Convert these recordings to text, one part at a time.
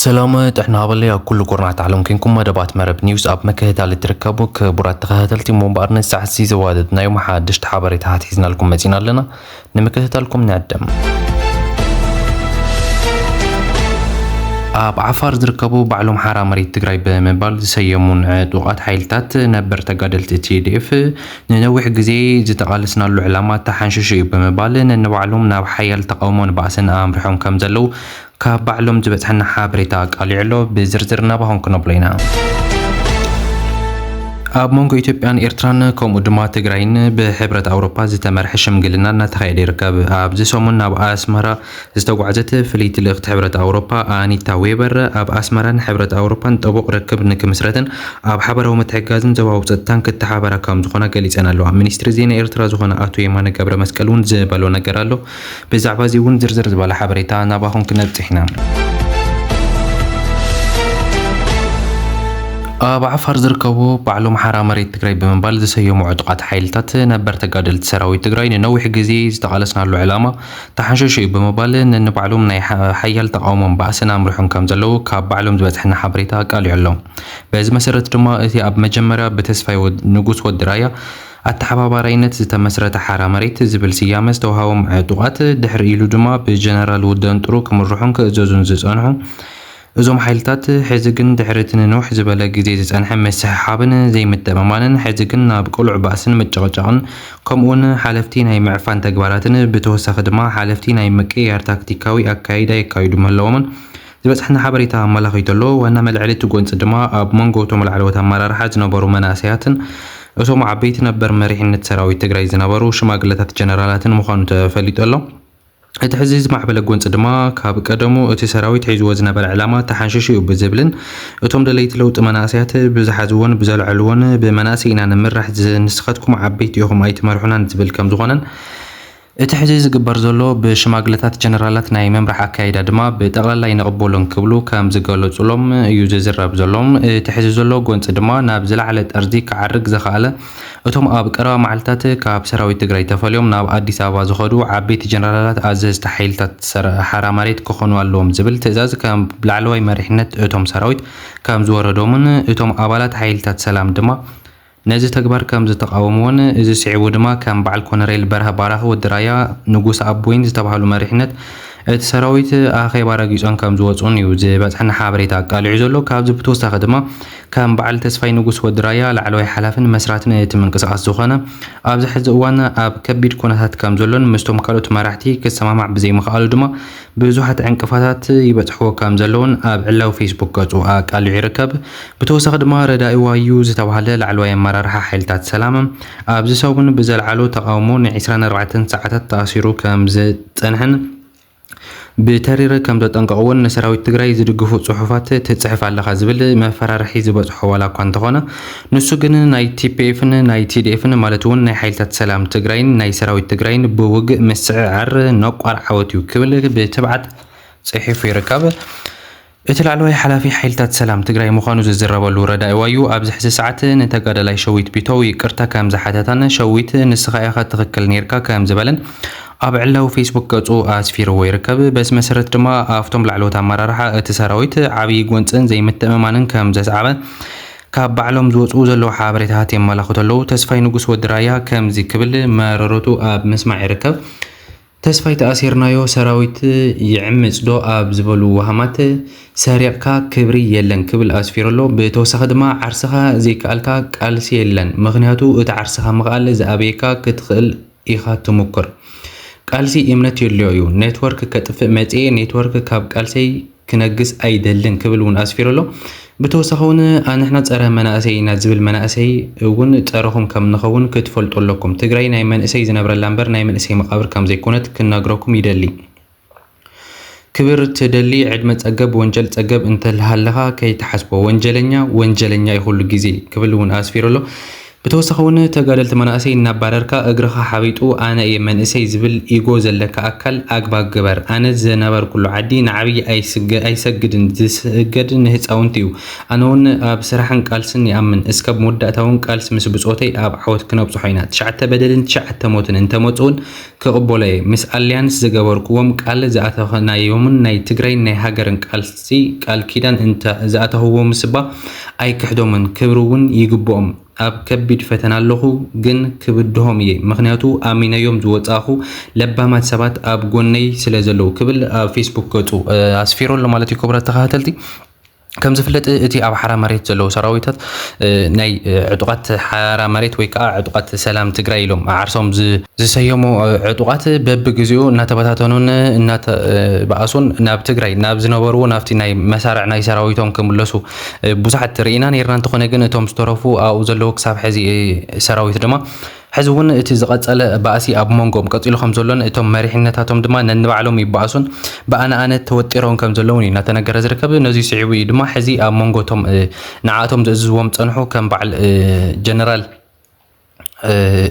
ሰላም ጥዕና ሃበለይ ኣብ ኩሉ ኩርናት ዓለም ኮንኩም መደባት መረብ ኒውስ ኣብ ምክህታል እትርከቡ ክቡራት ተኸታተልቲ እሞ እምበኣር ነዚ ሰዓት እዚ ዘዋደድናዮም ሓድሽቲ ሓበሬታታት ሒዝናልኩም መፂና ኣለና ንምክትታልኩም ንዕደም ኣብ ዓፋር ዝርከቡ ባዕሎም ሓራ መሬት ትግራይ ብምባል ዝሰየሙን ዕጡቓት ሓይልታት ነበር ተጋደልቲ ቲዲኤፍ ንነዊሕ ግዜ ዝተቓለስናሉ ዕላማ ተሓንሺሹ እዩ ብምባል ነንባዕሎም ናብ ሓያል ተቓውሞን ባእስን ኣምሪሖም ከም ዘለዉ ካብ ባዕሎም ዝበጽሐና ሓበሬታ ኣቃሊዑ ኣሎ። ብዝርዝር ናባኹም ክነብሎ ኢና። ኣብ መንጎ ኢትዮጵያን ኤርትራን ከምኡ ድማ ትግራይን ብሕብረት ኣውሮፓ ዝተመርሐ ሽምግልና እናተኻየደ ይርከብ። ኣብዚ ሰሙን ናብ ኣስመራ ዝተጓዕዘት ፍልይቲ ልእኽቲ ሕብረት ኣውሮፓ ኣኒታ ዌበር፣ ኣብ ኣስመራን ሕብረት ኣውሮፓን ጥቡቕ ርክብ ንክምስረትን ኣብ ሓበራዊ ምትሕግጋዝን ዞባዊ ጸጥታን ክተሓባበራ ከምዝኾና ገሊጸን ኣለዋ። ሚኒስትሪ ዜና ኤርትራ ዝኾነ ኣቶ የማነ ገብረመስቀል እውን ዝበሎ ነገር ኣሎ። ብዛዕባ እዚ እውን ዝርዝር ዝበለ ሓበሬታ ናባኹም ክነብጽሕ ኢና። ኣብ ዓፋር ዝርከቡ ባዕሎም ሓራ መሬት ትግራይ ብምባል ዝሰየሙ ዕጡቓት ሓይልታት ነበር ተጋደልቲ ሰራዊት ትግራይ ንነዊሕ ግዜ ዝተቓለስናሉ ዕላማ ተሓንሸሹ እዩ ብምባል ነንባዕሎም ናይ ሓያል ተቓውሞን ባእስን ኣምሪሖም ከም ዘለዉ ካብ ባዕሎም ዝበጽሐና ሓበሬታ ኣቃሊዑ ኣሎ። በዚ መሰረት ድማ እቲ ኣብ መጀመርያ ብተስፋይ ንጉስ ወዲ ራያ ኣተሓባባራይነት ዝተመስረተ ሓራ መሬት ዝብል ስያመ ዝተዋህቦም ዕጡቓት ድሕሪ ኢሉ ድማ ብጀነራል ውደንጥሩ ክምርሑን ክእዘዙን ዝጸንሑ እዞም ሓይልታት ሕዚ ግን ድሕሪ እቲ ንንውሕ ዝበለ ግዜ ዝጸንሐ ምስሕሓብን ዘይምትእምማንን ሕዚ ግን ናብ ቅሉዕ ባእስን ምጭቕጫቕን ከምኡውን ሓለፍቲ ናይ ምዕፋን ተግባራትን ብተወሳኺ ድማ ሓለፍቲ ናይ ምቅይያር ታክቲካዊ ኣካይዳ የካይዱ ምህላዎምን ዝበጽሓና ሓበሬታ ኣመላኺቱ ኣሎ። ዋና መልዐሊ እቲ ጎንጺ ድማ ኣብ መንጎ እቶም ላዕለዎት ኣመራርሓ ዝነበሩ መናእሰያትን እቶም ዓበይቲ ነበር መሪሕነት ሰራዊት ትግራይ ዝነበሩ ሽማግለታት ጀነራላትን ምዃኑ ተፈሊጡ ኣሎ። እቲ ሕዚ ዝማዕበለ ጎንፂ ድማ ካብ ቀደሙ እቲ ሰራዊት ሒዝዎ ዝነበረ ዕላማ ተሓንሺሹ ዩ ብዝብልን እቶም ደለይቲ ለውጢ መናእሰያት ብዝሓዝዎን ብዘልዐልዎን ብመናእሰይ ኢና ንምራሕ ንስኻትኩም ዓበይቲ ኢኹም ኣይትመርሑናን ዝብል ከምዝኾነን እቲ ሕዚ ዝግበር ዘሎ ብሽማግለታት ጀነራላት ናይ ምምራሕ ኣካይዳ ድማ ብጠቕላላ ኣይንቕበሎን ክብሉ ከምዝገለፁሎም ዩ ዝዝረብ ዘሎ። እቲ ሕዚ ዘሎ ጎንፂ ድማ ናብ ዝለዓለ ጠርዚ ክዓርግ ዘኽኣለ እቶም ኣብ ቀረባ መዓልትታት ካብ ሰራዊት ትግራይ ተፈልዮም ናብ ኣዲስ ኣበባ ዝኸዱ ዓበይቲ ጀነራላት ኣዘዝቲ ሓይልታት ሓራ መሬት ክኾኑ ኣለዎም ዝብል ትእዛዝ ካብ ላዕለዋይ መሪሕነት እቶም ሰራዊት ከምዝወረዶምን እቶም ኣባላት ሓይልታት ሰላም ድማ ነዚ ተግባር ከምዝተቓወምዎን እዚ ስዒቡ ድማ ከም በዓል ኮነሬል በርሀ ባራኺ ወዲ ራያ ንጉሰ ኣቦይን ዝተባህሉ መሪሕነት እቲ ሰራዊት ኣኼባ ረጊፆም ከምዝወፁን እዩ ዝበፅሐና ሓበሬታ ኣቃሊዑ ዘሎ ካብዚ ብተወሳኺ ድማ ከም በዓል ተስፋይ ንጉስ ወዲ ራያ ላዕለዋይ ሓላፍን መስራትን እቲ ምንቅስቓስ ዝኾነ፣ ኣብዚ ሕዚ እዋን ኣብ ከቢድ ኩነታት ከም ዘሎን ምስቶም ካልኦት መራሕቲ ክሰማማዕ ብዘይምኽኣሉ ድማ ብዙሓት ዕንቅፋታት ይበጽሕዎ ከም ዘለዉን ኣብ ዕላዊ ፌስቡክ ገጹ ኣቃሊዑ ይርከብ። ብተወሳኺ ድማ ረዳኢዋ'ዩ ዝተባህለ ላዕለዋይ ኣመራርሓ ሓይልታት ሰላም ኣብዚ ሰሙን ብዘልዓሎ ተቓውሞ ንዒስራን ኣርባዕተን ሰዓታት ተኣሲሩ ከም ዝጸንሐን ብተሪር ከም ዘጠንቀቕዎን ንሰራዊት ትግራይ ዝድግፉ ፅሑፋት ትፅሕፍ ኣለኻ ዝብል መፈራርሒ ዝበፅሖ ዋላ እኳ እንተኾነ ንሱ ግን ናይ ቲፒኤፍን ናይ ቲዲኤፍን ማለት እውን ናይ ሓይልታት ሰላም ትግራይን ናይ ሰራዊት ትግራይን ብውግእ ምስዕዓር ነቋር ዓወት እዩ ክብል ብትብዓት ፅሒፉ ይርከብ። እቲ ላዕለዋይ ሓላፊ ሓይልታት ሰላም ትግራይ ምዃኑ ዝዝረበሉ ረዳኢ ዋዩ ኣብዚ ሕዚ ሰዓት ንተጋዳላይ ሸዊት ቢተው ይቅርታ ከም ዝሓተታን ሸዊት ንስኻ ኢኻ ትኽክል ኔርካ ከም ዝበለን ኣብ ዕላዊ ፌስቡክ ገጹ ኣስፊርዎ ይርከብ። በዚ መሰረት ድማ ኣብቶም ላዕለዎት ኣመራርሓ እቲ ሰራዊት ዓብዪ ጎንጽን ዘይምትእምማንን ከም ዘስዓበ ካብ ባዕሎም ዝወጽኡ ዘለዉ ሓበሬታታት የመላኽቱ ኣለዉ። ተስፋይ ንጉስ ወዲ ራያ ከምዚ ክብል መረረቱ ኣብ ምስማዕ ይርከብ። ተስፋይ ተኣሲርናዮ ሰራዊት ይዕምጽ ዶ ኣብ ዝበሉ ወሃማት ሰሪቕካ ክብሪ የለን ክብል ኣስፊሩ ኣሎ። ብተወሳኺ ድማ ዓርስኻ ዘይከኣልካ ቃልሲ የለን ምኽንያቱ እቲ ዓርስኻ ምኽኣል ዝኣበየካ ክትኽእል ኢኻ ትሙኩር። ቃልሲ እምነት የድልዮ እዩ። ኔትወርክ ከጥፍእ መጽየ ኔትወርክ ካብ ቃልሰይ ክነግስ ኣይደልን ክብል እውን ኣስፊሩ ኣሎ። ብተወሳኺ እውን ኣንሕና ፀረ መናእሰይ ኢና ዝብል መናእሰይ እውን ፀረኹም ከም ንኸውን ክትፈልጡ ኣለኩም። ትግራይ ናይ መንእሰይ ዝነብረላ እምበር ናይ መንእሰይ መቓብር ከም ዘይኮነት ክነግረኩም ይደሊ። ክብር ትደሊ ዕድመ ፀገብ ወንጀል ፀገብ እንተልሃለኻ ከይትሓስቦ። ወንጀለኛ ወንጀለኛ እዩ ኩሉ ግዜ ክብል እውን ኣስፊሩ ኣሎ። ብተወሳኺ እውን ተጋደልቲ መናእሰይ እናባረርካ እግርኻ ሓቢጡ ኣነ እየ መንእሰይ ዝብል ኢጎ ዘለካ ኣካል ኣግባብ ግበር። ኣነ ዝነበርኩሉ ዓዲ ንዓብይ ኣይሰግድን ዝስገድ ንህፃውንቲ እዩ። ኣነ እውን ኣብ ስራሕን ቃልስን ይኣምን እስከ ኣብ መወዳእታ እውን ቃልሲ ምስ ብፆተይ ኣብ ዓወት ክነብፅሖ ኢና ትሽዓተ በደልን ትሽዓተ ሞትን እንተመፁ እውን ክቕበሎ'የ ምስ ኣልያንስ ዝገበርኩዎም ቃል ዝኣተናዮምን ናይ ትግራይን ናይ ሃገርን ቃልሲ ቃል ኪዳን እንተ ዝኣተኹዎምስ'ባ ኣይክሕዶምን ክብሪ'ውን ይግብኦም ኣብ ከቢድ ፈተና ኣለኹ ግን ክብድሆም እየ ምኽንያቱ ኣሚነዮም ዝወጻእኹ ለባማት ሰባት ኣብ ጎነይ ስለዘለዉ ክብል ኣብ ፌስቡክ ገጹ ኣስፊሩ ኣሎ ማለት እዩ ክቡራት ተኸታተልቲ ከም ዝፍለጥ እቲ ኣብ ሓራ መሬት ዘለዉ ሰራዊታት ናይ ዕጡቓት ሓራ መሬት ወይ ከዓ ዕጡቓት ሰላም ትግራይ ኢሎም ዓርሶም ዝሰየሙ ዕጡቓት በብግዜኡ እናተበታተኑን እናተባኣሱን ናብ ትግራይ ናብ ዝነበርዎ ናብቲ ናይ መሳርዕ ናይ ሰራዊቶም ክምለሱ ብዙሓት ርኢና ነይርና። እንተኾነ ግን እቶም ዝተረፉ ኣብኡ ዘለዉ ክሳብ ሕዚ ሰራዊት ድማ ሕዚ እውን እቲ ዝቐጸለ ባእሲ ኣብ ሞንጎኦም ቀጺሉ ከም ዘሎን እቶም መሪሕነታቶም ድማ ነንባዕሎም ይበኣሱን ብኣነ ኣነ ተወጢሮን ከም ዘለውን እዩ እናተነገረ ዝርከብ። ነዙይ ስዒቡ እዩ ድማ ሕዚ ኣብ ሞንጎ እቶም ንዓኣቶም ዝእዝዝዎም ዝጸንሑ ከም በዓል ጀነራል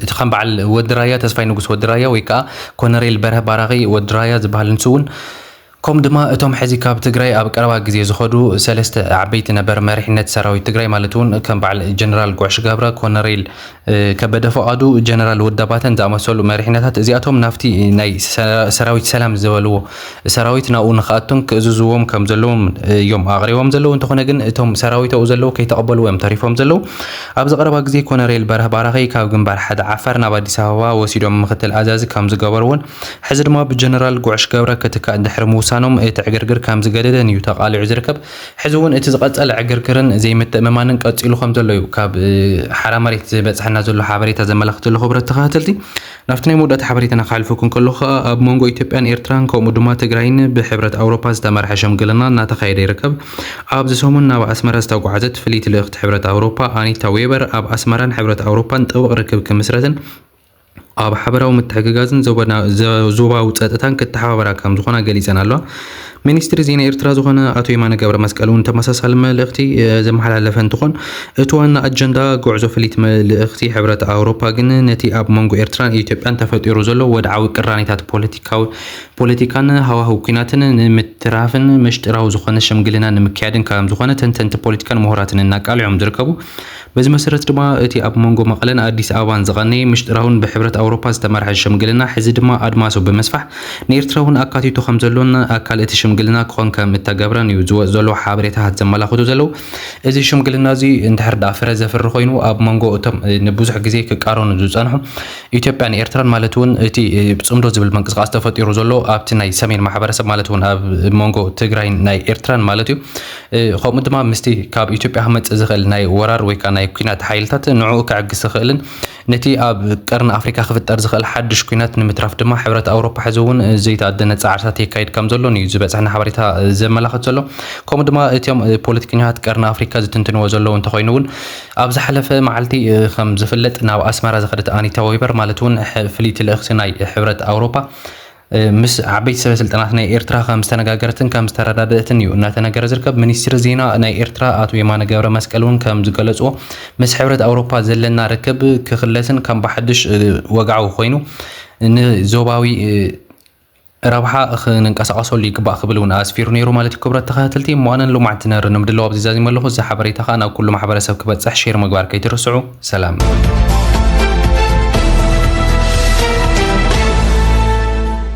እቲ ከም በዓል ወዲ ራያ ተስፋይ ንጉስ ወዲ ራያ ወይ ከዓ ኮነሬል በርሀ ባራኺ ወዲ ራያ ዝበሃል ንሱ እውን ከምኡ ድማ እቶም ሕዚ ካብ ትግራይ ኣብ ቀረባ ግዜ ዝኸዱ ሰለስተ ዓበይቲ ነበር መሪሕነት ሰራዊት ትግራይ ማለት እውን ከም በዓል ጀነራል ጉዕሽ ገብረ፣ ኮነሬል ከበደ ፍቓዱ፣ ጀነራል ወዲ ኣባተን ዝኣመሰሉ መሪሕነታት እዚኣቶም ናብቲ ናይ ሰራዊት ሰላም ዝበልዎ ሰራዊት ናብኡ ንክኣቱን ክእዝዝዎም ከም ዘለዎም እዮም ኣቕሪቦም ዘለዉ። እንተኾነ ግን እቶም ሰራዊት ኣብኡ ዘለዉ ከይተቐበልዎ እዮም ተሪፎም ዘለዉ። ኣብዚ ቀረባ ግዜ ኮነሬል በርህ ባራኺ ካብ ግንባር ሓደ ዓፋር ናብ ኣዲስ ኣበባ ወሲዶም ምክትል ኣዛዚ ከም ዝገበርዎን ሕዚ ድማ ብጀነራል ጉዕሽ ገብረ ክትካእ ድሕሪ ምውሳኖም እቲ ዕግርግር ከምዚ ገደደን እዩ ተቓሊዑ ዝርከብ። ሕዚ እውን እቲ ዝቐፀለ ዕግርግርን ዘይምትእምማንን ቀፂሉ ከምዘሎ እዩ ካብ ሓራ መሬት ዝበፀሐና ዘሎ ሓበሬታ ዘመላኽት ዘሎ ክቡራት ተኸታተልቲ። ናብቲ ናይ መወዳእታ ሓበሬታና ክሓልፈኩም ከለኹ ከዓ ኣብ መንጎ ኢትዮጵያን ኤርትራን ከምኡ ድማ ትግራይን ብሕብረት ኣውሮፓ ዝተመርሐ ሽምግልና እናተኻየደ ይርከብ። ኣብዚ ሰሙን ናብ ኣስመራ ዝተጓዓዘት ፍልይቲ ልእኽቲ ሕብረት ኣውሮፓ ኣኒታ ዌበር ኣብ ኣስመራን ሕብረት ኣውሮፓን ጥብቕ ርክብ ክምስረትን ኣብ ሓበራዊ ምትሕግጋዝን ዞባዊ ጸጥታን ክተሓባበራ ከም ዝኾና ገሊጸን ኣለዋ። ሚኒስትሪ ዜና ኤርትራ ዝኾነ ኣቶ የማነ ገብረ መስቀል እውን ተመሳሳሊ መልእኽቲ ዘመሓላለፈ እንትኾን እቲ ዋና ኣጀንዳ ጉዕዞ ፍሊት መልእኽቲ ሕብረት ኣውሮፓ ግን ነቲ ኣብ መንጎ ኤርትራን ኢትዮጵያን ተፈጢሩ ዘሎ ወድዓዊ ቅራኔታት ፖለቲካዊ ፖለቲካን ሃዋህው ኩናትን ንምትራፍን መሽጥራዊ ዝኾነ ሽምግልና ንምክያድን ከም ዝኾነ ተንተንቲ ፖለቲካን ምሁራትን እናቃልዑም ዝርከቡ በዚ መሰረት ድማ እቲ ኣብ መንጎ መቐለን ኣዲስ ኣበባን ዝቐነየ ምሽጥራውን ብሕብረት ኣውሮፓ ዝተመርሐ ሽምግልና ሕዚ ድማ ኣድማሱ ብምስፋሕ ንኤርትራ እውን ኣካቲቱ ከምዘሎን ኣካል እቲ ሽምግልና ክኾን ከም እተገብረን እዩ ዝወጽ ዘሎ ሓበሬታታት ዘመላኽቱ ዘለው። እዚ ሽምግልና እዚ እንድሕር ደኣ ፍረ ዘፍሪ ኮይኑ ኣብ መንጎ እቶም ንብዙሕ ግዜ ክቃረኑ ዝጸንሑ ኢትዮጵያን ኤርትራን ማለት እውን እቲ ጽምዶ ዝብል ምንቅስቃስ ተፈጢሩ ዘሎ ኣብቲ ናይ ሰሜን ማሕበረሰብ ማለት እውን ኣብ መንጎ ትግራይን ናይ ኤርትራን ማለት እዩ ከምኡ ድማ ምስቲ ካብ ኢትዮጵያ ክመጽእ ዝኽእል ናይ ወራር ወይ ከኣ ናይ ኲናት ሓይልታት ንዕኡ ከዕግስ ዝኽእልን ነቲ ኣብ ቀርኒ ኣፍሪካ ክፍጠር ዝኽእል ሓድሽ ኲናት ንምትራፍ ድማ ሕብረት ኣውሮፓ ሕዚ እውን ዘይተኣደነ ጻዕርታት የካይድ ከም ዘሎን እዩ ዝበጽሐና ሓበሬታ ዘመላኽት ዘሎ ከምኡ ድማ እቶም ፖለቲከኛታት ቀርኒ ኣፍሪካ ዝትንትንዎ ዘለዉ እንተኾይኑ እውን ኣብ ዝሓለፈ መዓልቲ ከም ዝፍለጥ ናብ ኣስመራ ዝኸደት ኣኒታ ዌበር ማለት እውን ፍልይቲ ልእኽቲ ናይ ሕብረት ኣውሮፓ ምስ ዓበይቲ ሰበ ስልጣናት ናይ ኤርትራ ከም ዝተነጋገረትን ከም ዝተረዳደእትን እዩ እናተነገረ ዝርከብ። ሚኒስትሪ ዜና ናይ ኤርትራ ኣቶ የማነ ገብረ መስቀል እውን ከም ዝገለፅዎ ምስ ሕብረት ኣውሮፓ ዘለና ርክብ ክኽለስን ከም ብሓድሽ ወግዓዊ ኮይኑ ንዞባዊ ረብሓ ክንንቀሳቐሰሉ ይግባእ ክብል እውን ኣስፊሩ ነይሩ ማለት እዩ ክብረት ተኸታተልቲ እሞ ኣነ ንሎማዕንቲ ነር ንምድላው ኣብዚ ዛዚመ ኣለኹ እዚ ሓበሬታ ከዓ ናብ ኩሉ ማሕበረሰብ ክበፅሕ ሼር ምግባር ከይትርስዑ ሰላም።